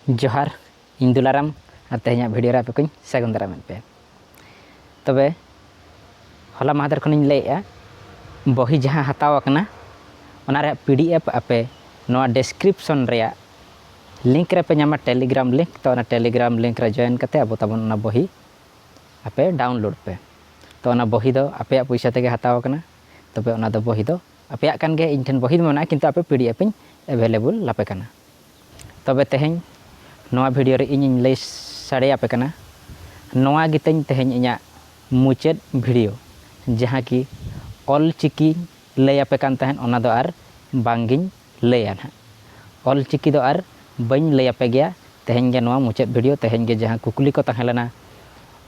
ᱡᱚᱦᱟᱨ ᱤᱧ ᱫᱩᱞᱟᱨᱟᱢ ᱟᱨ ᱛᱮᱦᱮᱧᱟᱜ ᱵᱷᱤᱰᱤᱭᱳ ᱨᱮ ᱟᱯᱮ ᱠᱚᱧ ᱥᱟᱹᱜᱩᱱ ᱫᱟᱨᱟᱢᱮᱫ ᱯᱮᱭᱟ ᱛᱚᱵᱮ ᱦᱚᱞᱟ ᱢᱟᱦᱫᱮᱨ ᱠᱷᱚᱱᱤᱧ ᱞᱟᱹᱭᱮᱫᱼᱟ ᱵᱚᱦᱤ ᱡᱟᱦᱟᱸ ᱦᱟᱛᱟᱣ ᱟᱠᱟᱱᱟ ᱚᱱᱟ ᱨᱮᱭᱟᱜ ᱯᱤ ᱰᱤ ᱮᱯᱷ ᱟᱯᱮ ᱱᱚᱣᱟ ᱰᱮᱥᱠᱨᱤᱯᱥᱚᱱ ᱨᱮᱭᱟᱜ ᱞᱤᱝᱠ ᱨᱮᱯᱮ ᱧᱟᱢᱟ ᱴᱮᱞᱤᱜᱨᱟᱢ ᱞᱤᱝᱠ ᱛᱚ ᱚᱱᱟ ᱴᱮᱞᱤᱜᱨᱟᱢ ᱞᱤᱝᱠ ᱨᱮ ᱡᱚᱭᱮᱱ ᱠᱟᱛᱮ ᱟᱵᱚ ᱛᱟᱵᱚᱱ ᱚᱱᱟ ᱵᱚᱦᱤ ᱟᱯᱮ ᱰᱟᱣᱩᱱᱞᱳᱰ ᱯᱮ ᱛᱚ ᱚᱱᱟ ᱵᱚᱦᱤ ᱫᱚ ᱟᱯᱮᱭᱟᱜ ᱯᱚᱭᱥᱟ ᱛᱮᱜᱮ ᱦᱟᱛᱟᱣ ᱟᱠᱟᱱᱟ ᱛᱚᱵᱮ ᱚᱱᱟ ᱫᱚ ᱵᱚᱦᱤ ᱫᱚ ᱟᱯᱮᱭᱟᱜ ᱠᱟᱱ ᱜᱮᱭᱟ ᱤᱧ ᱴᱷᱮᱱ ᱵᱚᱦᱤ ᱫᱚ ᱢᱮᱱᱟᱜᱼᱟ ᱠᱤᱱᱛᱩ ᱟᱯᱮ ᱯᱤ ᱰᱤ ᱮᱯᱷ ᱤᱧ ᱮᱵᱷᱮᱞᱮᱵᱚᱞ ᱟᱯᱮ ᱠᱟᱱᱟ ᱛᱚᱵᱮ ᱛᱮᱦᱮᱧ ᱱᱚᱣᱟ ᱵᱷᱤᱰᱤᱭᱳ ᱨᱮ ᱤᱧᱤᱧ ᱞᱟᱹᱭ ᱥᱟᱰᱮ ᱟᱯᱮ ᱠᱟᱱᱟ ᱱᱚᱣᱟ ᱜᱮ ᱛᱤᱧ ᱛᱮᱦᱮᱧ ᱤᱧᱟᱹᱜ ᱢᱩᱪᱟᱹᱫ ᱵᱷᱤᱰᱤᱭᱳ ᱡᱟᱦᱟᱸ ᱠᱤ ᱚᱞ ᱪᱤᱠᱤ ᱞᱟᱹᱭ ᱟᱯᱮ ᱠᱟᱱ ᱛᱟᱦᱮᱸᱫ ᱚᱱᱟ ᱫᱚ ᱟᱨ ᱵᱟᱝ ᱜᱤᱧ ᱞᱟᱹᱭᱟ ᱱᱟᱦᱟᱜ ᱚᱞ ᱪᱤᱠᱤ ᱫᱚ ᱟᱨ ᱵᱟᱹᱧ ᱞᱟᱹᱭ ᱟᱯᱮ ᱜᱮᱭᱟ ᱛᱮᱦᱮᱧ ᱜᱮ ᱱᱚᱣᱟ ᱢᱩᱪᱟᱹᱫ ᱵᱷᱤᱰᱤᱭᱳ ᱛᱮᱦᱮᱧ ᱜᱮ ᱡᱟᱦᱟᱸ ᱠᱩᱠᱞᱤ ᱠᱚ ᱛᱟᱦᱮᱸ ᱞᱮᱱᱟ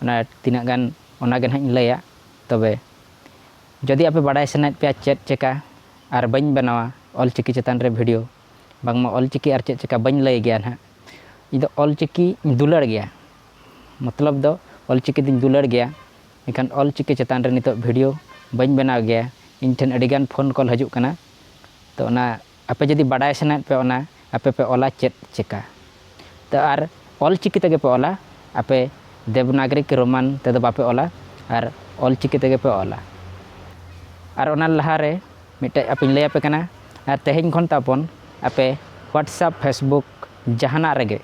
ᱚᱱᱟ ᱛᱤᱱᱟᱹᱜ ᱜᱟᱱ ᱚᱱᱟ ᱜᱮ ᱱᱟᱦᱟᱜ ᱤᱧ ᱞᱟᱹᱭᱟ ᱛᱚᱵᱮ ᱡᱩᱫᱤ ᱟᱯᱮ ᱵᱟᱰᱟᱭ ᱥᱟᱱᱟᱭᱮᱫ ᱯᱮᱭᱟ ᱪᱮᱫ ᱪᱤᱠᱟᱹ ᱟᱨ ᱵᱟᱹᱧ ᱵᱮᱱᱟᱣᱟ ᱚᱞ ᱪᱤᱠᱤ ᱪᱮᱛᱟᱱ ᱨᱮ ᱵᱷᱤᱰᱤᱭᱳ ᱵᱟᱝᱢᱟ ᱚᱞ ᱪᱤᱠᱤ ᱟᱨ ᱪᱮᱫ ᱪᱮᱠᱟ ᱵᱟᱹᱧ ᱞᱟᱹᱭ ᱜᱮᱭᱟ ᱱᱟᱦᱟᱜ ᱤᱧ ᱫᱚ ᱚᱞ ᱪᱤᱠᱤᱧ ᱫᱩᱞᱟᱹᱲ ᱜᱮᱭᱟ ᱢᱚᱛᱞᱚᱵ ᱫᱚ ᱚᱞ ᱪᱤᱠᱤ ᱫᱚᱧ ᱫᱩᱞᱟᱹᱲ ᱜᱮᱭᱟ ᱮᱱᱠᱷᱟᱱ ᱚᱞ ᱪᱤᱠᱤ ᱪᱮᱛᱟᱱ ᱨᱮ ᱱᱤᱛᱚᱜ ᱵᱷᱤᱰᱤᱭᱳ ᱵᱟᱹᱧ ᱵᱮᱱᱟᱣ ᱜᱮᱭᱟ ᱤᱧ ᱴᱷᱮᱱ ᱟᱹᱰᱤ ᱜᱟᱱ ᱯᱷᱳᱱ ᱠᱚᱞ ᱦᱤᱡᱩᱜ ᱠᱟᱱᱟ ᱛᱚ ᱚᱱᱟ ᱟᱯᱮ ᱡᱩᱫᱤ ᱵᱟᱰᱟᱭ ᱥᱟᱱᱟᱭᱮᱫ ᱯᱮᱭᱟ ᱚᱱᱟ ᱟᱯᱮ ᱯᱮ ᱚᱞᱟ ᱪᱮᱫ ᱪᱤᱠᱟ ᱛᱚ ᱟᱨ ᱚᱞ ᱪᱤᱠᱤ ᱛᱮᱜᱮ ᱯᱮ ᱚᱞᱟ ᱟᱯᱮ ᱫᱮᱵᱽᱱᱟᱜᱽᱨᱤ ᱠᱤ ᱨᱳᱢᱟᱱ ᱛᱮᱫᱚ ᱵᱟᱯᱮ ᱚᱞᱟ ᱟᱨ ᱚᱞ ᱪᱤᱠᱤ ᱛᱮᱜᱮ ᱯᱮ ᱚᱞᱟ ᱟᱨ ᱚᱱᱟ ᱞᱟᱦᱟ ᱨᱮ ᱢᱤᱫᱴᱮᱡ ᱟᱯᱮᱧ ᱞᱟᱹᱭ ᱟᱯᱮ ᱠᱟᱱᱟ ᱟᱨ ᱛᱮᱦᱮᱧ ᱠᱷᱚᱱ ᱛᱟᱵᱚᱱ ᱟᱯᱮ ᱦᱳᱣᱟᱴᱥᱮᱯ ᱯᱷᱮᱥᱵᱩᱠ ᱡᱟᱦᱟᱱᱟᱜ ᱨᱮᱜᱮ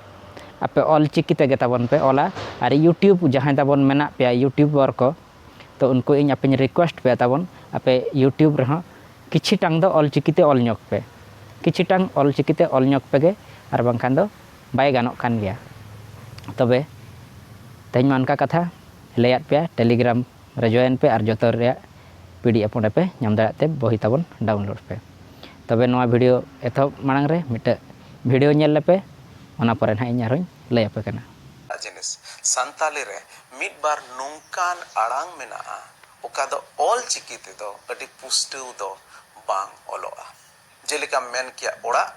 ᱟᱯᱮ ᱚᱞ ᱪᱤᱠᱤ ᱛᱮᱜᱮ ᱛᱟᱵᱚᱱ ᱯᱮ ᱚᱞᱟ ᱟᱨ ᱤᱭᱩᱴᱩᱵᱽ ᱡᱟᱦᱟᱸᱭ ᱛᱟᱵᱚᱱ ᱢᱮᱱᱟᱜ ᱯᱮᱭᱟ ᱤᱭᱩᱴᱩᱵᱟᱨ ᱠᱚ ᱛᱚ ᱩᱱᱠᱩ ᱤᱧ ᱟᱯᱮᱧ ᱨᱤᱠᱩᱭᱮᱥᱴ ᱯᱮᱭᱟ ᱛᱟᱵᱚᱱ ᱟᱯᱮ ᱤᱭᱩᱴᱩᱵᱽ ᱨᱮᱦᱚᱸ ᱠᱤᱪᱷᱤ ᱴᱟᱝ ᱫᱚ ᱚᱞ ᱪᱤᱠᱤ ᱛᱮ ᱚᱞ ᱧᱚᱜᱽ ᱯᱮ ᱠᱤᱪᱷᱤ ᱴᱟᱝ ᱚᱞ ᱪᱤᱠᱤ ᱛᱮ ᱚᱞ ᱧᱚᱜᱽ ᱯᱮᱜᱮ ᱟᱨ ᱵᱟᱝᱠᱷᱟᱱ ᱫᱚ ᱵᱟᱭ ᱜᱟᱱᱚᱜ ᱠᱟᱱ ᱜᱮᱭᱟ ᱛᱚᱵᱮ ᱛᱮᱦᱮᱧ ᱢᱟ ᱚᱱᱠᱟ ᱠᱟᱛᱷᱟ ᱞᱟᱹᱭᱟᱫ ᱯᱮᱭᱟ ᱴᱮᱞᱤᱜᱨᱟᱢ ᱨᱮ ᱡᱚᱭᱮᱱ ᱯᱮ ᱟᱨ ᱡᱚᱛᱚ ᱨᱮᱭᱟᱜ ᱯᱤ ᱰᱤ ᱮᱯᱷ ᱚᱸᱰᱮ ᱯᱮ ᱧᱟᱢ ᱫᱟᱲᱮᱭᱟᱜ ᱛᱮ ᱵᱚᱦᱤ ᱛᱟᱵᱚᱱ ᱰᱟᱣᱩᱱᱞᱳᱰ ᱯᱮ ᱛᱚᱵᱮ ᱱᱚᱣᱟ ᱵᱷᱤᱰᱤᱭᱳ ᱮᱛᱚᱦᱚᱵ ᱢᱟᱲᱟᱝ ᱨᱮ ᱢᱤᱫᱴᱮᱡ ᱵᱷᱤᱰᱤᱭᱳ ᱧᱮᱞ ᱞᱮᱯᱮ ᱚᱱᱟ ᱯᱚᱨᱮ ᱱᱟᱦᱟᱜ ᱤᱧ ᱟᱨᱦᱚᱸᱧ ᱞᱟᱹᱭ ᱟᱯᱮ ᱠᱟᱱᱟ ᱮᱴᱟᱜ ᱡᱤᱱᱤᱥ, ᱥᱟᱱᱛᱟᱞᱤ ᱨᱮ ᱢᱤᱫ ᱵᱟᱨ ᱱᱚᱝᱠᱟᱱ ᱟᱲᱟᱝ ᱢᱮᱱᱟᱜᱼᱟ ᱚᱠᱟ ᱫᱚ ᱚᱞ ᱪᱤᱠᱤ ᱛᱮ ᱫᱚ ᱟᱹᱰᱤ ᱯᱩᱥᱴᱟᱹᱣ ᱫᱚ ᱵᱟᱝ ᱚᱞᱚᱜᱼᱟ᱾ ᱡᱮᱞᱮᱠᱟᱢ ᱢᱮᱱ ᱠᱮᱭᱟ ᱚᱲᱟᱜ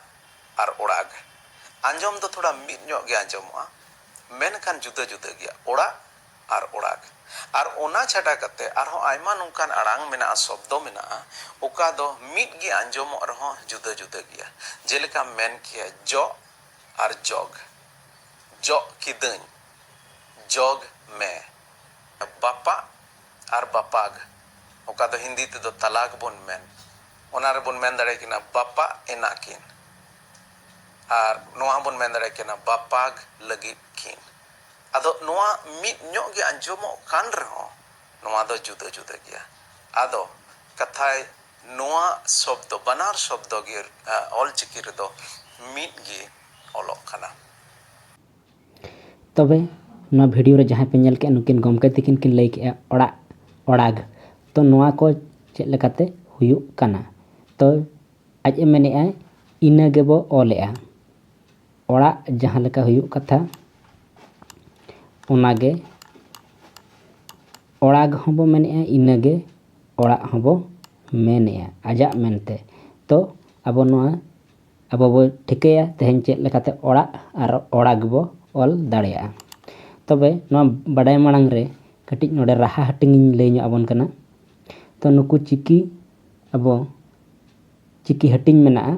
ᱟᱨ ᱚᱲᱟᱜᱽ᱾ ᱟᱸᱡᱚᱢ ᱫᱚ ᱛᱷᱚᱲᱟ ᱢᱤᱫ ᱧᱚᱜ ᱜᱮ ᱟᱸᱡᱚᱢᱚᱜᱼᱟ, ᱢᱮᱱᱠᱷᱟᱱ ᱡᱩᱫᱟᱹ ᱡᱩᱫᱟᱹ ᱜᱮᱭᱟ ᱚᱲᱟᱜ ᱟᱨ ᱚᱲᱟᱜᱽ᱾ ᱟᱨ ᱚᱱᱟ ᱪᱷᱟᱰᱟ ᱠᱟᱛᱮ ᱟᱨᱦᱚᱸ ᱟᱭᱢᱟ ᱱᱚᱝᱠᱟᱱ ᱟᱲᱟᱝ ᱢᱮᱱᱟᱜᱼᱟ, ᱥᱚᱵᱽᱫᱚ ᱢᱮᱱᱟᱜᱼᱟ, ᱚᱠᱟ ᱫᱚ ᱢᱤᱫ ᱜᱮ ᱟᱸᱡᱚᱢᱚᱜ ᱨᱮᱦᱚᱸ ᱡᱩᱫᱟᱹ ᱡᱩᱫᱟᱹ ᱜᱮᱭᱟ᱾ ᱡᱮᱞᱮᱠᱟᱢ ᱢᱮᱱ ᱠᱮᱭᱟ ᱡᱚᱜ ᱟᱨ ᱡᱚᱜᱽ᱾ ᱡᱚᱜ ᱠᱤᱫᱟᱹᱧ ᱡᱚᱜᱽ ᱢᱮ᱾ ᱵᱟᱯᱟᱜ ᱟᱨ ᱵᱟᱯᱟᱜᱽ ᱚᱠᱟ ᱫᱚ ᱦᱤᱱᱫᱤ ᱛᱮᱫᱚ ᱛᱟᱞᱟᱠ ᱵᱚᱱ ᱢᱮᱱ ᱚᱱᱟ ᱨᱮ ᱵᱚᱱ ᱢᱮᱱ ᱫᱟᱲᱮ ᱠᱤᱱᱟ ᱵᱟᱯᱟᱜ ᱮᱱᱟ ᱠᱤᱱ ᱟᱨ ᱱᱚᱣᱟ ᱦᱚᱸ ᱵᱚᱱ ᱢᱮᱱ ᱫᱟᱲᱮ ᱠᱤᱱᱟ ᱵᱟᱯᱟᱜᱽ ᱞᱟᱹᱜᱤᱫ ᱠᱤᱱ᱾ ᱟᱫᱚ ᱱᱚᱣᱟ ᱢᱤᱫ ᱧᱚᱜ ᱜᱮ ᱟᱸᱡᱚᱢᱚᱜ ᱠᱟᱱ ᱨᱮᱦᱚᱸ ᱱᱚᱣᱟ ᱫᱚ ᱡᱩᱫᱟᱹ ᱡᱩᱫᱟᱹ ᱜᱮᱭᱟ᱾ ᱟᱫᱚ ᱠᱟᱛᱷᱟᱭ ᱱᱚᱣᱟ ᱥᱚᱵᱽᱫᱚ ᱵᱟᱱᱟᱨ ᱥᱚᱵᱽᱫᱚ ᱜᱮ ᱚᱞᱪᱤᱠᱤ ᱨᱮᱫᱚ ᱢᱤᱫ ᱜᱮ ᱚᱞᱚᱜ ᱠᱟᱱᱟ᱾ ᱛᱚᱵᱮ ᱱᱚᱣᱟ ᱵᱷᱤᱰᱤᱭᱳ ᱨᱮ ᱡᱟᱦᱟᱸᱭ ᱯᱮ ᱧᱮᱞ ᱠᱮᱫᱼᱟ ᱱᱩᱠᱤᱱ ᱜᱚᱢᱠᱮ ᱛᱤᱠᱤᱱ ᱠᱤᱱ ᱞᱟᱹᱭ ᱠᱮᱫᱼᱟ ᱚᱲᱟᱜ ᱚᱲᱟᱜᱽ ᱛᱚ ᱱᱚᱣᱟ ᱠᱚ ᱪᱮᱫ ᱞᱮᱠᱟᱛᱮ ᱦᱩᱭᱩᱜ ᱠᱟᱱᱟ ᱛᱚ ᱟᱡ ᱮ ᱢᱮᱱᱮᱫᱼᱟ ᱤᱱᱟᱹ ᱜᱮᱵᱚ ᱚᱞᱮᱫᱼᱟ ᱚᱲᱟᱜ ᱡᱟᱦᱟᱸ ᱞᱮᱠᱟ ᱦᱩᱭᱩᱜ ᱠᱟᱛᱷᱟ ᱚᱱᱟ ᱜᱮ ᱚᱲᱟᱜᱽ ᱦᱚᱸ ᱵᱚ ᱢᱮᱱᱮᱫᱼᱟ ᱤᱱᱟᱹ ᱜᱮ ᱚᱲᱟᱜ ᱦᱚᱸ ᱵᱚ ᱢᱮᱱᱮᱫᱼᱟ ᱟᱡᱟᱜ ᱢᱮᱱᱛᱮ ᱛᱚ ᱟᱵᱚ ᱱᱚᱣᱟ ᱟᱵᱚ ᱵᱚ ᱴᱷᱤᱠᱟᱹᱭᱟ ᱛᱮᱦᱮᱧ ᱪᱮᱫ ᱞᱮᱠᱟᱛᱮ ᱚᱲᱟᱜ ᱟᱨ ᱚᱲᱟ ᱜᱮᱵᱚ ᱚᱞ ᱫᱟᱲᱮᱭᱟᱜᱼᱟ ᱛᱚᱵᱮ ᱱᱚᱣᱟ ᱵᱟᱰᱟᱭ ᱢᱟᱲᱟᱝ ᱨᱮ ᱠᱟᱹᱴᱤᱡ ᱱᱚᱰᱮ ᱨᱟᱦᱟ ᱦᱟᱹᱴᱤᱧ ᱤᱧ ᱞᱟᱹᱭ ᱧᱚᱜ ᱟᱵᱚᱱ ᱠᱟᱱᱟ ᱛᱚ ᱱᱩᱠᱩ ᱪᱤᱠᱤ ᱟᱵᱚ ᱪᱤᱠᱤ ᱦᱟᱹᱴᱤᱧ ᱢᱮᱱᱟᱜᱼᱟ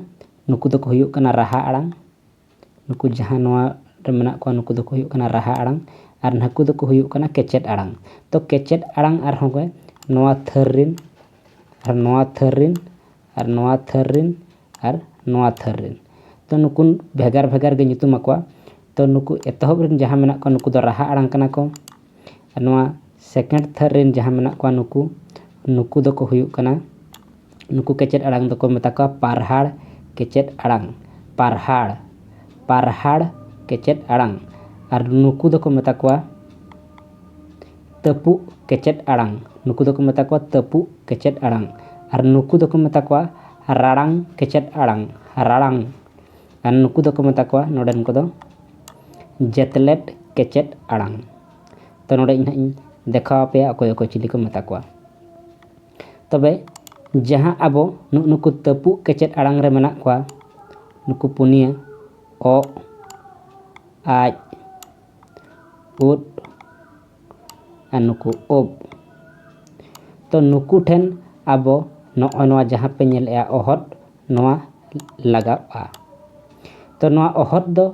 ᱱᱩᱠᱩ ᱫᱚᱠᱚ ᱦᱩᱭᱩᱜ ᱠᱟᱱᱟ ᱨᱟᱦᱟ ᱟᱲᱟᱝ ᱱᱩᱠᱩ ᱡᱟᱦᱟᱸ ᱱᱚᱣᱟ ᱨᱮ ᱢᱮᱱᱟᱜ ᱠᱚᱣᱟ ᱱᱩᱠᱩ ᱫᱚᱠᱚ ᱦᱩᱭᱩᱜ ᱠᱟᱱᱟ ᱨᱟᱦᱟ ᱟᱲᱟᱝ ᱟᱨ ᱱᱩᱠᱩ ᱫᱚᱠᱚ ᱦᱩᱭᱩᱜ ᱠᱟᱱᱟ ᱠᱮᱪᱮᱫ ᱟᱲᱟᱝ ᱛᱚ ᱠᱮᱪᱮᱫ ᱟᱲᱟᱝ ᱟᱨᱦᱚᱸ ᱜᱮ ᱱᱚᱣᱟ ᱛᱷᱟᱹᱨ ᱨᱮᱱ ᱟᱨ ᱱᱚᱣᱟ ᱛᱷᱟᱹᱨ ᱨᱮᱱ ᱟᱨ ᱱᱚᱣᱟ ᱛᱷᱟᱹᱨ ᱨᱮᱱ ᱟᱨ ᱱᱚᱣᱟ ᱛᱷᱟᱹᱨ ᱨᱮᱱ ᱛᱚ ᱱᱩᱠᱩ ᱵᱷᱮᱜᱟᱨ ᱵᱷᱮᱜᱟᱨ ᱜᱮ ᱧᱩᱛᱩᱢ ᱟᱠᱚᱣᱟ ᱛᱚ ᱱᱩᱠᱩ ᱮᱛᱚᱦᱚᱵ ᱨᱮᱱ ᱡᱟᱦᱟᱸ ᱢᱮᱱᱟᱜ ᱠᱚᱣᱟ ᱱᱩᱠᱩ ᱫᱚ ᱨᱟᱦᱟ ᱟᱲᱟᱝ ᱠᱟᱱᱟ ᱠᱚ ᱟᱨ ᱱᱚᱣᱟ ᱥᱮᱠᱮᱱᱰ ᱛᱷᱟᱹᱨ ᱨᱮᱱ ᱡᱟᱦᱟᱸ ᱢᱮᱱᱟᱜ ᱠᱚᱣᱟ ᱱᱩᱠᱩ ᱱᱩᱠᱩ ᱫᱚᱠᱚ ᱦᱩᱭᱩᱜ ᱠᱟᱱᱟ ᱱᱩᱠᱩ ᱠᱮᱪᱮᱫ ᱟᱲᱟᱝ ᱫᱚᱠᱚ ᱢᱮᱛᱟ ᱠᱚᱣᱟ ᱯᱟᱨᱦᱟᱲ ᱠᱮᱪᱮᱫ ᱟᱲᱟᱝ ᱯᱟᱨᱦᱟᱲ ᱯᱟᱨᱦᱟᱲ ᱠᱮᱪᱮᱫ ᱟᱲᱟᱝ ᱟᱨ ᱱᱩᱠᱩ ᱫᱚᱠᱚ ᱢᱮᱛᱟ ᱠᱚᱣᱟ ᱛᱟᱹᱯᱩᱜ ᱠᱮᱪᱮᱫ ᱟᱲᱟᱝ ᱱᱩᱠᱩ ᱫᱚᱠᱚ ᱢᱮᱛᱟ ᱠᱚᱣᱟ ᱛᱟᱹᱯᱩᱜ ᱠᱮᱪᱮᱫ ᱟᱲᱟᱝ ᱟᱨ ᱱᱩᱠᱩ ᱫᱚᱠᱚ ᱢᱮᱛᱟ ᱠᱚᱣᱟ ᱨᱟᱲᱟᱝ ᱠᱮᱪᱮᱫ ᱟᱲᱟᱝ ᱨᱟᱲᱟᱝ ᱟᱨ ᱱᱩᱠᱩ ᱫᱚᱠᱚ ᱢᱮᱛᱟ ᱠᱚᱣᱟ ᱱᱚᱰᱮᱱ ᱠᱚᱫᱚ ᱡᱮᱛᱞᱮᱴ ᱠᱮᱪᱮᱫ ᱟᱲᱟᱝ ᱛᱚ ᱱᱚᱰᱮ ᱤᱧ ᱦᱟᱸᱜ ᱤᱧ ᱫᱮᱠᱷᱟᱣ ᱟᱯᱮᱭᱟ ᱚᱠᱚᱭ ᱚᱠᱚᱭ ᱪᱤᱞᱤ ᱠᱚ ᱢᱮᱛᱟ ᱠᱚᱣᱟ ᱛᱚᱵᱮ ᱡᱟᱦᱟᱸ ᱟᱵᱚ ᱱᱩᱜ ᱱᱩᱠᱩ ᱛᱟᱹᱯᱩᱜ ᱠᱮᱪᱮᱫ ᱟᱲᱟᱝ ᱨᱮ ᱢᱮᱱᱟᱜ ᱠᱚᱣᱟ ᱱᱩᱠᱩ ᱯᱩᱱᱭᱟᱹ ᱚᱜ ᱟᱡ ᱩᱫ ᱟᱨ ᱱᱩᱠᱩ ᱩᱵ ᱛᱚ ᱱᱩᱠᱩ ᱴᱷᱮᱱ ᱟᱵᱚ ᱱᱚᱜᱼᱚᱭ ᱱᱚᱣᱟ ᱡᱟᱦᱟᱸ ᱯᱮ ᱧᱮᱞᱮᱫᱼᱟ ᱚᱦᱚᱫ ᱱᱚᱣᱟ ᱞᱟᱜᱟᱜᱼᱟ ᱛᱚ ᱱᱚᱣᱟ ᱚᱦᱚᱫ ᱫᱚ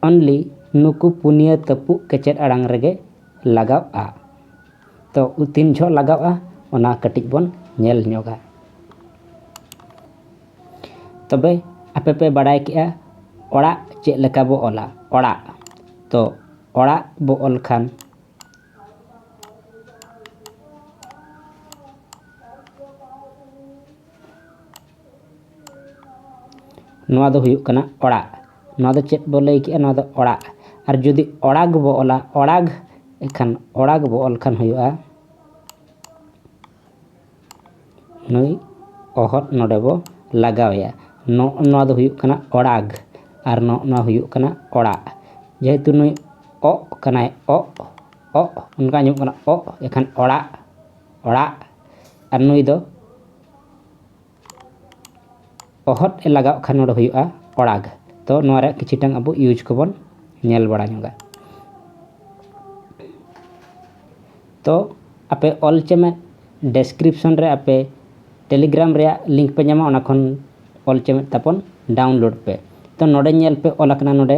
ᱚᱱᱞᱤ ᱱᱩᱠᱩ ᱯᱩᱱᱭᱟᱹ ᱛᱟᱹᱯᱩᱜ ᱠᱮᱪᱮᱫ ᱟᱲᱟᱝ ᱨᱮᱜᱮ ᱞᱟᱜᱟᱜᱼᱟ ᱛᱚ ᱛᱤᱱ ᱡᱚᱦᱚᱜ ᱞᱟᱜᱟᱜᱼᱟ ᱚᱱᱟ ᱠᱟᱹᱴᱤᱡ ᱵᱚᱱ ᱧᱮᱞ ᱧᱚᱜᱟ ᱛᱚᱵᱮ ᱟᱯᱮ ᱯᱮ ᱵᱟᱲᱟᱭ ᱠᱮᱫᱼᱟ ᱚᱲᱟᱜ ᱪᱮᱫ ᱞᱮᱠᱟ ᱵᱚ ᱚᱞᱟ ᱚᱲᱟᱜ ᱛᱚ ᱚᱲᱟᱜ ᱵᱚ ᱚᱞ ᱠᱷᱟᱱ ᱱᱚᱣᱟ ᱫᱚ ᱦᱩᱭᱩᱜ ᱠᱟᱱᱟ ᱚᱲᱟᱜ ᱱᱚᱣᱟ ᱫᱚ ᱪᱮᱫ ᱵᱚ ᱞᱟᱹᱭ ᱠᱮᱫᱼᱟ ᱱᱚᱣᱟ ᱫᱚ ᱚᱲᱟᱜ ᱟᱨ ᱡᱩᱫᱤ ᱚᱲᱟᱜᱽ ᱵᱚ ᱚᱞᱟ ᱚᱲᱟᱜᱽ ᱮᱱᱠᱷᱟᱱ ᱚᱲᱟᱜᱽ ᱵᱚ ᱚᱞ ᱠᱷᱟᱱ ᱦᱩᱭᱩᱜᱼᱟ ᱱᱩᱭ ᱚᱦᱚᱫ ᱱᱚᱰᱮ ᱵᱚ ᱞᱟᱜᱟᱣᱮᱭᱟ ᱱᱚᱜᱼᱚ ᱱᱚᱣᱟ ᱫᱚ ᱦᱩᱭᱩᱜ ᱠᱟᱱᱟ ᱚᱲᱟᱜᱽ ᱟᱨ ᱱᱚᱜᱼᱚ ᱱᱚᱣᱟ ᱦᱩᱭᱩᱜ ᱠᱟᱱᱟ ᱚᱲᱟᱜ ᱡᱮᱦᱮᱛᱩ ᱱᱩᱭ ᱚᱜ ᱠᱟᱱᱟᱭ ᱚᱜ ᱚᱜ ᱚᱱᱠᱟ ᱟᱸᱡᱚᱢᱚᱜ ᱠᱟᱱᱟ ᱚᱜ ᱮᱱᱠᱷᱟᱱ ᱚᱲᱟᱜ ᱚᱲᱟᱜ ᱟᱨ ᱱᱩᱭ ᱫᱚ ᱚᱦᱚᱫ ᱮ ᱞᱟᱜᱟᱣ ᱠᱷᱟᱱ ᱱᱚᱰᱮ ᱦᱩᱭᱩᱜᱼᱟ ᱚᱲᱟᱜ ᱛᱚ ᱱᱚᱣᱟ ᱨᱮᱭᱟᱜ ᱠᱤᱪᱷᱩ ᱴᱟᱝ ᱟᱵᱚ ᱤᱭᱩᱡᱽ ᱠᱚᱵᱚᱱ ᱧᱮᱞ ᱵᱟᱲᱟ ᱧᱚᱜᱟ ᱛᱚ ᱟᱯᱮ ᱚᱞ ᱪᱮ ᱢᱮ ᱰᱮᱥᱠᱨᱤᱯᱥᱚᱱ ᱨᱮ ᱟᱯᱮ ᱴᱮᱞᱤᱜᱨᱟᱢ ᱨᱮᱭᱟᱜ ᱞᱤᱝᱠ ᱯᱮ ᱧᱟᱢᱟ ᱚᱱᱟ ᱠᱷᱚᱱ ᱚᱞ ᱪᱮᱢᱮᱫ ᱛᱟᱵᱚᱱ ᱰᱟᱣᱩᱱᱞᱳᱰ ᱯᱮ ᱛᱚ ᱱᱚᱰᱮ ᱧᱮᱞ ᱯᱮ ᱚᱞ ᱟᱠᱟᱱᱟ ᱱᱚᱰᱮ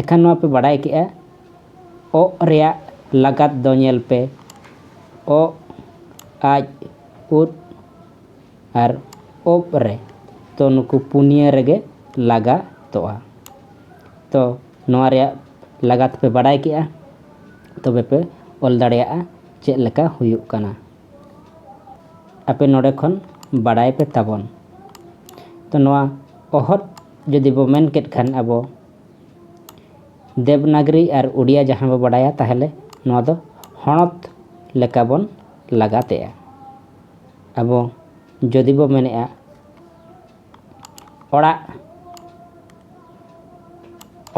ᱮᱠᱷᱟᱱ ᱱᱚᱣᱟ ᱯᱮ ᱵᱟᱰᱟᱭ ᱠᱮᱜᱼᱟ ᱚᱜ ᱨᱮᱭᱟᱜ ᱞᱟᱜᱟᱛ ᱫᱚ ᱧᱮᱞ ᱯᱮ ᱚᱜ ᱟᱡ ᱩᱫ ᱟᱨ ᱚᱵ ᱨᱮ ᱛᱚ ᱱᱩᱠᱩ ᱯᱩᱱᱭᱟᱹ ᱨᱮᱜᱮ ᱞᱟᱜᱟᱛᱚᱜᱼᱟ ᱛᱚ ᱱᱚᱣᱟ ᱨᱮᱭᱟᱜ ᱞᱟᱜᱟᱛ ᱯᱮ ᱵᱟᱰᱟᱭ ᱠᱮᱜᱼᱟ ᱛᱚᱵᱮ ᱯᱮ ᱚᱞ ᱫᱟᱲᱮᱭᱟᱜᱼᱟ ᱪᱮᱫ ᱞᱮᱠᱟ ᱦᱩᱭᱩᱜ ᱠᱟᱱᱟ ᱟᱯᱮ ᱱᱚᱰᱮ ᱠᱷᱚᱱ ᱵᱟᱰᱟᱭ ᱯᱮ ᱛᱟᱵᱚᱱ ᱛᱚ ᱱᱚᱣᱟ ᱚᱦᱚᱫ ᱡᱩᱫᱤ ᱵᱚ ᱢᱮᱱ ᱠᱮᱫ ᱠᱷᱟᱱ ᱟᱵᱚ ᱫᱮᱵᱽᱱᱟᱜᱽᱨᱤ ᱟᱨ ᱳᱰᱤᱭᱟ ᱡᱟᱦᱟᱸ ᱵᱚ ᱵᱟᱰᱟᱭᱟ ᱛᱟᱦᱚᱞᱮ ᱱᱚᱣᱟ ᱫᱚ ᱦᱚᱱᱚᱛ ᱞᱮᱠᱟ ᱵᱚᱱ ᱞᱟᱜᱟᱛᱮᱜᱼᱟ ᱟᱵᱚ ᱡᱩᱫᱤ ᱵᱚ ᱢᱮᱱᱮᱜᱼᱟ ᱚᱲᱟᱜ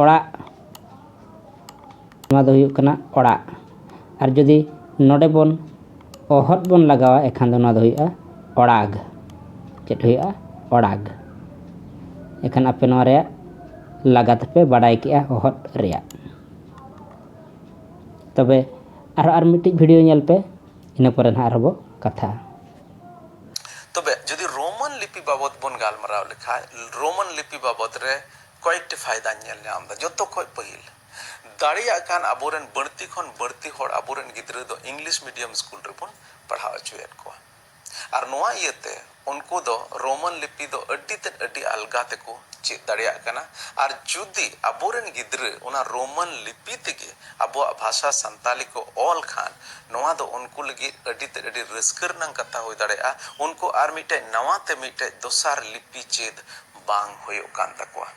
ᱚᱲᱟᱜ ᱱᱚᱣᱟ ᱫᱚ ᱦᱩᱭᱩᱜ ᱠᱟᱱᱟ ᱚᱲᱟᱜ ᱟᱨ ᱡᱩᱫᱤ ᱱᱚᱰᱮ ᱵᱚᱱ ᱚᱦᱚᱫ ᱵᱚᱱ ᱞᱟᱜᱟᱣᱟ ᱮᱱᱠᱷᱟᱱ ᱫᱚ ᱱᱚᱣᱟ ᱫᱚ ᱦᱩᱭᱩᱜᱼᱟ ᱚᱲᱟᱜᱽ ᱪᱮᱫ ᱦᱩᱭᱩᱜᱼᱟ ᱚᱲᱟᱜᱽ ᱮᱱᱠᱷᱟᱱ ᱟᱯᱮ ᱱᱚᱣᱟ ᱨᱮᱭᱟᱜ ᱞᱟᱜᱟᱛ ᱯᱮ ᱵᱟᱰᱟᱭ ᱠᱮᱫᱼᱟ ᱚᱦᱚᱫ ᱨᱮᱭᱟᱜ ᱛᱚᱵᱮ ᱟᱨ ᱟᱨ ᱢᱤᱫᱴᱤᱡ ᱵᱷᱤᱰᱤᱭᱳ ᱧᱮᱞ ᱯᱮ ᱤᱱᱟᱹ ᱯᱚᱨᱮ ᱱᱟᱦᱟᱜ ᱟᱨᱦᱚᱸ ᱵᱚ ᱠᱟᱛᱷᱟᱜᱼᱟ ᱛᱚᱵᱮ ᱡᱩᱫᱤ ᱨᱳᱢᱟᱱ ᱞᱤᱯᱤ ᱵᱟᱵᱚᱫ ᱵᱚᱱ ᱜᱟᱞᱢᱟᱨᱟᱣ ᱞᱮᱠᱷᱟᱱ ᱨᱳᱢᱟᱱ ᱞᱤᱯᱤ ᱵᱟᱵᱚᱫ ᱨᱮ ᱠᱚᱭᱮᱠᱴᱤ ᱯᱷᱟᱭᱫᱟᱧ ᱧᱮᱞ ᱧᱟᱢ ᱮᱫᱟ ᱡᱚᱛᱚ ᱠᱷᱚᱱ ᱯᱟᱹᱦᱤᱞ ᱫᱟᱲᱮᱭᱟᱜ ᱠᱟᱱ ᱟᱵᱚ ᱨᱮᱱ ᱵᱟᱹᱲᱛᱤ ᱠᱷᱚᱱ ᱵᱟᱹᱲᱛᱤ ᱦᱚᱲ ᱟᱵᱚ ᱨᱮᱱ ᱜᱤᱫᱽᱨᱟᱹ ᱫᱚ ᱤᱝᱞᱤᱥ ᱢᱤᱰᱤᱭᱟᱢ ᱥᱠᱩᱞ ᱨᱮ ᱵᱚᱱ ᱯᱟᱲᱦᱟᱣ ᱚᱪᱚᱭᱮᱫ ᱠᱚᱣᱟ ᱟᱨ ᱱᱚᱶᱟ ᱤᱭᱟᱹ ᱛᱮ ᱩᱱᱠᱩ ᱫᱚ ᱨᱳᱢᱟᱱ ᱞᱤᱯᱤ ᱫᱚ ᱟᱹᱰᱤ ᱛᱮᱫ ᱟᱹᱰᱤ ᱟᱞᱜᱟ ᱛᱮ ᱠᱚ ᱪᱮᱫ ᱫᱟᱲᱮᱭᱟᱜ ᱠᱟᱱᱟ ᱟᱨ ᱡᱩᱫᱤ ᱟᱵᱚ ᱨᱮᱱ ᱜᱤᱫᱽᱨᱟᱹ ᱚᱱᱟ ᱨᱳᱢᱟᱱ ᱞᱤᱯᱤ ᱛᱮᱜᱮ ᱟᱵᱚᱣᱟᱜ ᱵᱷᱟᱥᱟ ᱥᱟᱱᱛᱟᱞᱤ ᱠᱚ ᱚᱞ ᱠᱷᱟᱱ ᱱᱚᱶᱟ ᱫᱚ ᱩᱱᱠᱩ ᱞᱟᱹᱜᱤᱫ ᱟᱹᱰᱤ ᱛᱮᱫ ᱟᱹᱰᱤ ᱨᱟᱹᱥᱠᱟᱹ ᱨᱮᱱᱟᱜ ᱠᱟᱛᱷᱟ ᱦᱩᱭ ᱫᱟᱲᱮᱭᱟᱜᱼᱟ ᱩᱱᱠᱩ ᱟᱨ ᱢᱤᱫᱴᱮᱱ ᱱᱟᱶᱟ ᱛᱮ ᱢᱤᱫᱴᱮᱱ ᱫᱚᱥᱟᱨ ᱞᱤᱯᱤ ᱪᱮᱫ ᱵᱟᱝ ᱦᱩᱭᱩᱜ ᱠᱟᱱ ᱛᱟᱠᱚᱣᱟ᱾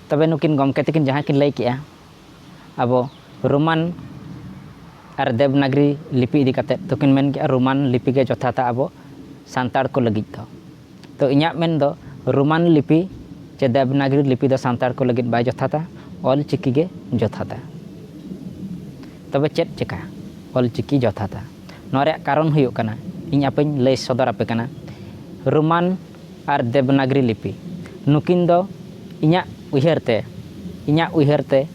ᱛᱚᱵᱮ ᱱᱩᱠᱤᱱ ᱜᱚᱢᱠᱮ ᱛᱟᱹᱠᱤᱱ ᱡᱟᱦᱟᱸ ᱠᱤᱱ ᱞᱟᱹᱭ ᱠᱮᱜᱼᱟ ᱟᱵᱚ ᱨᱳᱢᱟᱱ ᱟᱨ ᱫᱮᱵᱽᱱᱟᱜᱽᱨᱤ ᱞᱤᱯᱤ ᱤᱫᱤ ᱠᱟᱛᱮᱫ ᱛᱚᱠᱤᱱ ᱢᱮᱱ ᱠᱮᱜᱼᱟ ᱨᱳᱢᱟᱱ ᱞᱤᱯᱤ ᱜᱮ ᱡᱚᱛᱷᱟᱛᱟ ᱟᱵᱚ ᱥᱟᱱᱛᱟᱲ ᱠᱚ ᱞᱟᱹᱜᱤᱫ ᱫᱚ ᱛᱚ ᱤᱧᱟᱹᱜ ᱢᱮᱱ ᱫᱚ ᱨᱳᱢᱟᱱ ᱞᱤᱯᱤ ᱪᱮ ᱫᱮᱵᱽᱱᱟᱜᱽᱨᱤ ᱞᱤᱯᱤ ᱫᱚ ᱥᱟᱱᱛᱟᱲ ᱠᱚ ᱞᱟᱹᱜᱤᱫ ᱵᱟᱭ ᱡᱚᱛᱷᱟᱛᱟ ᱚᱞ ᱪᱤᱠᱤ ᱜᱮ ᱡᱚᱛᱷᱟᱛᱟ ᱛᱚᱵᱮ ᱪᱮᱫ ᱪᱮᱠᱟ ᱚᱞ ᱪᱤᱠᱤ ᱡᱚᱛᱷᱟᱛᱟ ᱱᱚᱣᱟ ᱨᱮᱭᱟᱜ ᱠᱟᱨᱚᱱ ᱦᱩᱭᱩᱜ ᱠᱟᱱᱟ ᱤᱧ ᱟᱯᱮᱧ ᱞᱟᱹᱭ ᱥᱚᱫᱚᱨ ᱟᱯᱮ ᱠᱟᱱᱟ ᱨᱳᱢᱟᱱ ᱟᱨ ᱫᱮᱵᱽᱱᱟᱜᱽᱨᱤ ᱞᱤᱯᱤ᱾ ᱱᱩᱠᱤᱱ ᱫᱚ ᱤᱧᱟᱜ ᱩᱭᱦᱟᱹᱨ ᱛᱮ, ᱤᱧᱟᱜ ᱩᱭᱦᱟᱹᱨ ᱛᱮ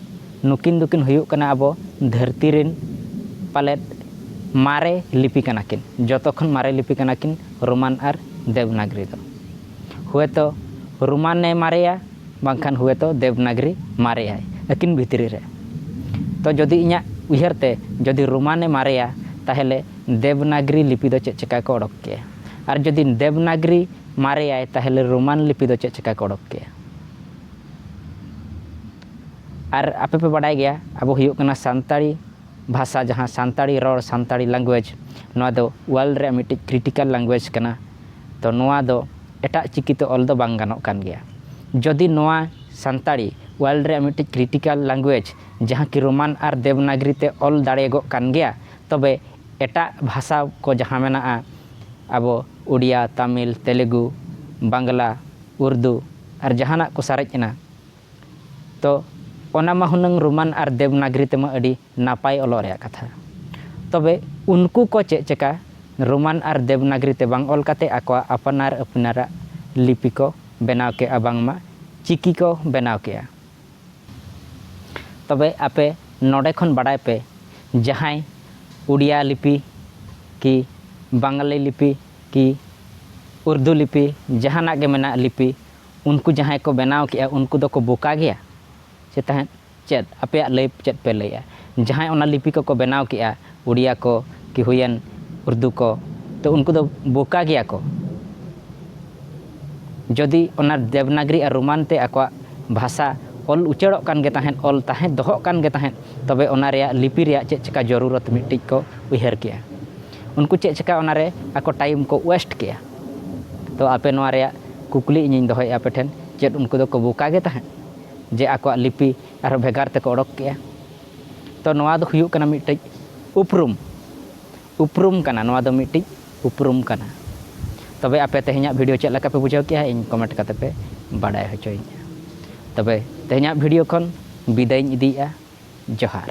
ᱱᱩᱠᱤᱱ ᱫᱚᱠᱤᱱ ᱦᱩᱭᱩᱜ ᱠᱟᱱᱟ ᱟᱵᱚ ᱫᱷᱟᱹᱨᱛᱤ ᱨᱤᱱ ᱯᱟᱞᱮᱫ ᱢᱟᱨᱮ ᱞᱤᱯᱤ ᱠᱟᱱᱟ ᱠᱤᱱ᱾ ᱡᱚᱛᱚ ᱠᱷᱚᱱ ᱢᱟᱨᱮ ᱞᱤᱯᱤ ᱠᱟᱱᱟ ᱠᱤᱱ ᱨᱳᱢᱟᱱ ᱟᱨ ᱫᱮᱵᱽᱱᱟᱜᱽᱨᱤ ᱫᱚ᱾ ᱦᱩᱭᱛᱚ ᱨᱳᱢᱟᱱ ᱮ ᱢᱟᱨᱮᱭᱟ ᱵᱟᱝᱠᱷᱟᱱ ᱦᱩᱭᱛᱚ ᱫᱮᱵᱽᱱᱟᱜᱽᱨᱤ ᱢᱟᱨᱮᱭᱟᱭ ᱟᱹᱠᱤᱱ ᱵᱷᱤᱛᱨᱤ ᱨᱮ᱾ ᱛᱚ ᱡᱚᱫᱤ ᱤᱧᱟᱜ ᱩᱭᱦᱟᱹᱨ ᱛᱮ ᱡᱚᱫᱤ ᱨᱳᱢᱟᱱ ᱮ ᱢᱟᱨᱮᱭᱟ ᱛᱟᱦᱞᱮ ᱫᱮᱵᱽᱱᱟᱜᱽᱨᱤ ᱞᱤᱯᱤ ᱫᱚ ᱪᱮᱫ ᱪᱮᱠᱟ ᱠᱚ ᱚᱰᱚᱠ ᱠᱮᱭᱟ? ᱟᱨ ᱡᱩᱫᱤ ᱫᱮᱵᱽᱱᱟᱜᱽᱨᱤ ᱢᱟᱨᱮᱭᱟᱭ ᱛᱟᱦᱚᱞᱮ ᱨᱳᱢᱟᱱ ᱞᱤᱯᱤ ᱫᱚ ᱪᱮᱫ ᱪᱤᱠᱟᱹ ᱠᱚ ᱚᱰᱚᱠ ᱠᱮᱜᱼᱟ ᱟᱨ ᱟᱯᱮ ᱯᱮ ᱵᱟᱰᱟᱭ ᱜᱮᱭᱟ ᱟᱵᱚ ᱦᱩᱭᱩᱜ ᱠᱟᱱᱟ ᱥᱟᱱᱛᱟᱲᱤ ᱵᱷᱟᱥᱟ ᱡᱟᱦᱟᱸ ᱥᱟᱱᱛᱟᱲᱤ ᱨᱚᱲ ᱥᱟᱱᱛᱟᱲᱤ ᱞᱮᱝᱜᱩᱭᱮᱡᱽ ᱱᱚᱣᱟ ᱫᱚ ᱳᱣᱟᱨᱞᱰ ᱨᱮᱭᱟᱜ ᱢᱤᱫᱴᱤᱡ ᱠᱨᱤᱴᱤᱠᱟᱞ ᱞᱮᱝᱜᱩᱭᱮᱡᱽ ᱠᱟᱱᱟ ᱛᱚ ᱱᱚᱣᱟ ᱫᱚ ᱮᱴᱟᱜ ᱪᱤᱠᱤ ᱛᱮ ᱚᱞ ᱫᱚ ᱵᱟᱝ ᱜᱟᱱᱚᱜ ᱠᱟᱱ ᱜᱮᱭᱟ ᱡᱩᱫᱤ ᱱᱚᱣᱟ ᱥᱟᱱᱛᱟᱲᱤ ᱳᱣᱟᱨᱞᱰ ᱨᱮᱭᱟᱜ ᱢᱤᱫᱴᱤᱡ ᱠᱨᱤᱴᱤᱠᱟᱞ ᱞᱮᱝᱜᱩᱭᱮᱡᱽ ᱡᱟᱦᱟᱸ ᱠᱤ ᱨᱳᱢᱟᱱ ᱟᱨ ᱫᱮᱵᱽᱱᱟᱜᱽᱨᱤ ᱛᱮ ᱚᱞ ᱫᱟᱲᱮᱭᱟᱜᱚᱜ ᱠᱟᱱ ᱜᱮᱭᱟ ᱛᱚᱵᱮ ᱮᱴᱟᱜ ᱵᱷᱟᱥᱟ ᱠᱚ ᱡᱟᱦᱟᱸ ᱢᱮᱱᱟᱜᱼᱟ ᱟᱵᱚ ᱩᱰᱤᱭᱟ, ᱛᱟᱢᱤᱞ, ᱛᱮᱞᱮᱜᱩ, ᱵᱟᱝᱞᱟ, ᱩᱨᱫᱩ ᱟᱨ ᱡᱟᱦᱟᱱᱟᱜ ᱠᱚ ᱥᱟᱨᱮᱡ ᱮᱱᱟ᱾ ᱛᱚ ᱚᱱᱟ ᱢᱟ ᱦᱩᱱᱟᱹᱝ ᱨᱳᱢᱟᱱ ᱟᱨ ᱫᱮᱵᱽᱱᱟᱜᱽᱨᱤ ᱛᱮ ᱢᱟ ᱟᱹᱰᱤ ᱱᱟᱯᱟᱭ ᱚᱞᱚᱜ ᱨᱮᱭᱟᱜ ᱠᱟᱛᱷᱟ᱾ ᱛᱚᱵᱮ ᱩᱱᱠᱩ ᱠᱚ ᱪᱮᱫ ᱪᱮᱠᱟ ᱨᱳᱢᱟᱱ ᱟᱨ ᱫᱮᱵᱽᱱᱟᱜᱽᱨᱤ ᱛᱮ ᱵᱟᱝ ᱚᱞ ᱠᱟᱛᱮ ᱟᱠᱚᱣᱟᱜ ᱟᱯᱱᱟᱨ ᱟᱯᱱᱟᱨᱟᱜ ᱞᱤᱯᱤ ᱠᱚ ᱵᱮᱱᱟᱣ ᱠᱮᱫᱼᱟ ᱵᱟᱝᱢᱟ ᱪᱤᱠᱤ ᱠᱚ ᱵᱮᱱᱟᱣ ᱠᱮᱫᱼᱟ᱾ ᱛᱚᱵᱮ ᱟᱯᱮ ᱱᱚᱰᱮ ᱠᱷᱚᱱ ᱵᱟᱰᱟᱭ ᱯᱮ ᱡᱟᱦᱟᱸᱭ ᱩᱰᱤᱭᱟ ᱞᱤᱯᱤ ᱠᱤ ᱵᱟᱝᱜᱟᱞᱤ ᱞᱤᱯᱤ ᱠᱤ ᱩᱨᱫᱩ ᱞᱤᱯᱤ ᱡᱟᱦᱟᱱᱟᱜ ᱜᱮ ᱢᱮᱱᱟᱜ ᱞᱤᱯᱤ ᱩᱱᱠᱩ ᱡᱟᱦᱟᱸᱭ ᱠᱚ ᱵᱮᱱᱟᱣ ᱠᱮᱜᱼᱟ ᱩᱱᱠᱩ ᱫᱚ ᱠᱚ ᱵᱚᱠᱟ ᱜᱮᱭᱟ ᱪᱮ ᱛᱟᱦᱮᱸᱫ ᱪᱮᱫ ᱟᱯᱮᱭᱟᱜ ᱞᱟᱹᱭ ᱪᱮᱫ ᱯᱮ ᱞᱟᱹᱭᱮᱜᱼᱟ ᱡᱟᱦᱟᱸᱭ ᱚᱱᱟ ᱞᱤᱯᱤ ᱠᱚ ᱠᱚ ᱵᱮᱱᱟᱣ ᱠᱮᱜᱼᱟ ᱩᱰᱤᱭᱟ ᱠᱚ ᱠᱤ ᱦᱩᱭᱮᱱ ᱩᱨᱫᱩ ᱠᱚ ᱛᱚ ᱩᱱᱠᱩ ᱫᱚ ᱵᱳᱠᱟ ᱜᱮᱭᱟ ᱠᱚ ᱡᱚᱫᱤ ᱚᱱᱟ ᱫᱮᱵᱽᱱᱟᱜᱽᱨᱤ ᱟᱨ ᱨᱳᱢᱟᱱ ᱛᱮ ᱟᱠᱚᱣᱟᱜ ᱵᱷᱟᱥᱟ ᱚᱞ ᱩᱪᱟᱹᱲᱚᱜ ᱠᱟᱱ ᱜᱮ ᱛᱟᱦᱮᱸᱫ ᱚᱞ ᱛᱟᱦᱮᱸᱫ ᱫᱚᱦᱚᱜ ᱠᱟᱱ ᱜᱮ ᱛᱟᱦᱮᱸᱫ ᱛᱚᱵᱮ ᱚᱱᱟ ᱨᱮᱭᱟᱜ ᱞᱤᱯᱤ ᱨᱮᱭᱟᱜ ᱪᱮᱫ ᱪᱮᱠᱟ ᱡᱚᱨᱩᱨᱚᱛ ᱢᱤᱫᱴᱤᱡ ᱠᱚ ᱩᱭᱦᱟᱹᱨ ᱠᱮᱜᱼᱟ ᱩᱱᱠᱩ ᱪᱮᱫ ᱪᱮᱠᱟ ᱚᱱᱟ ᱨᱮ ᱟᱠᱚ ᱴᱟᱭᱤᱢ ᱠᱚ ᱳᱭᱮᱥᱴ ᱠᱮᱜᱼᱟ ᱛᱚ ᱟᱯᱮ ᱱᱚᱣᱟ ᱨᱮᱭᱟᱜ ᱠᱩᱠᱞᱤ ᱤᱧᱤᱧ ᱫᱚᱦᱚᱭᱮᱜᱼᱟ ᱟᱯᱮ ᱴᱷᱮᱱ ᱪᱮᱫ ᱩᱱᱠᱩ ᱫᱚ ᱠᱚ ᱵᱳᱠᱟ ᱜᱮ ᱛᱟᱦᱮᱸᱫ ᱡᱮ ᱟᱠᱚᱣᱟᱜ ᱞᱤᱯᱤ ᱟᱨᱦᱚᱸ ᱵᱷᱮᱜᱟᱨ ᱛᱮᱠᱚ ᱚᱰᱚᱠ ᱠᱮᱜᱼᱟ ᱛᱚ ᱱᱚᱣᱟ ᱫᱚ ᱦᱩᱭᱩᱜ ᱠᱟᱱᱟ ᱢᱤᱫᱴᱮᱡ ᱩᱯᱨᱩᱢ ᱩᱯᱨᱩᱢ ᱠᱟᱱᱟ ᱱᱚᱣᱟ ᱫᱚ ᱢᱤᱫᱴᱤᱡ ᱩᱯᱨᱩᱢ ᱠᱟᱱᱟ ᱛᱚᱵᱮ ᱟᱯᱮ ᱛᱮᱦᱮᱧᱟᱜ ᱵᱷᱤᱰᱤᱭᱳ ᱪᱮᱫ ᱞᱮᱠᱟ ᱯᱮ ᱵᱩᱡᱷᱟᱹᱣ ᱠᱮᱜᱼᱟ ᱤᱧ ᱠᱚᱢᱮᱱᱴ ᱠᱟᱛᱮ ᱯᱮ ᱵᱟᱰᱟᱭ ᱦᱚᱪᱚᱭᱤᱧᱟ ᱛᱚᱵᱮ ᱛᱮᱦᱮᱧᱟᱜ ᱵᱷᱤᱰᱤᱭᱳ ᱠᱷᱚᱱ ᱵᱤᱫᱟᱹᱭᱤᱧ ᱤᱫᱤᱭᱮᱜᱼᱟ ᱡᱚᱦᱟᱨ